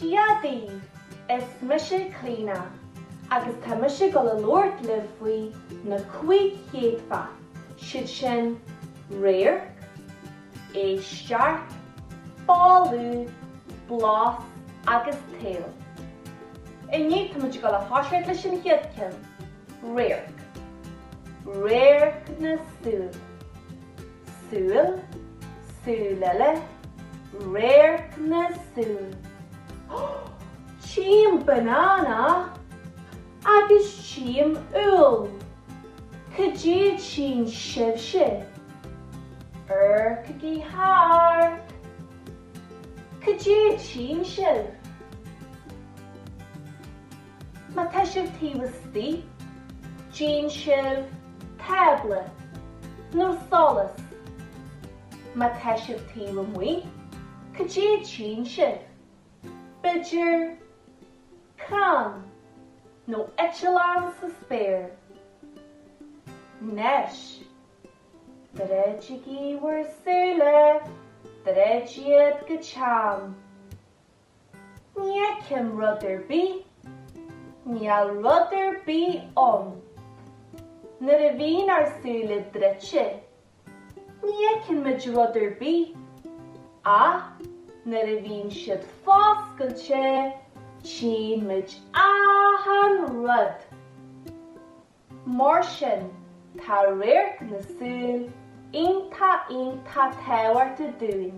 Dia dhaoibh! Is mise Clíodhna agus tá mise ag gabháil a labhairt libh faoi na cúig chéadfa, siad sin, radharc, éisteacht, boladh, blas agus tadhall. Inniu tá muid ag gabháil a thoiseacht leis an chéad ceann. Radharc, radharc na súl. Súil, súil eile, radharc na súl. Hó! Tchím banana! Agus tchím úll! Cad é a tchíonn sibhse? Amharcaigí thart! Cad é a tchíonn sibh? Má tá sibh taobh istigh, an dtchíonn sibh tábla nó solas. Má tá sibh taobh amuigh, cad é a tchíonn sibh? B'fhéidir, crann nó eitleán sa spéir. Anois, druidigí bhur súile, druid iad go teann. Ní fheicim rud ar bith. Níl rud ar bith ann. Nuair a bhíonn ár súile druidte, ní fheiceann muid rud ar bith, ach nuair a bhíonn siad foscailte, tchíonn muid achan rud. Mar sin, tá radharc na súl iontach iontach tábhachtach dúinn.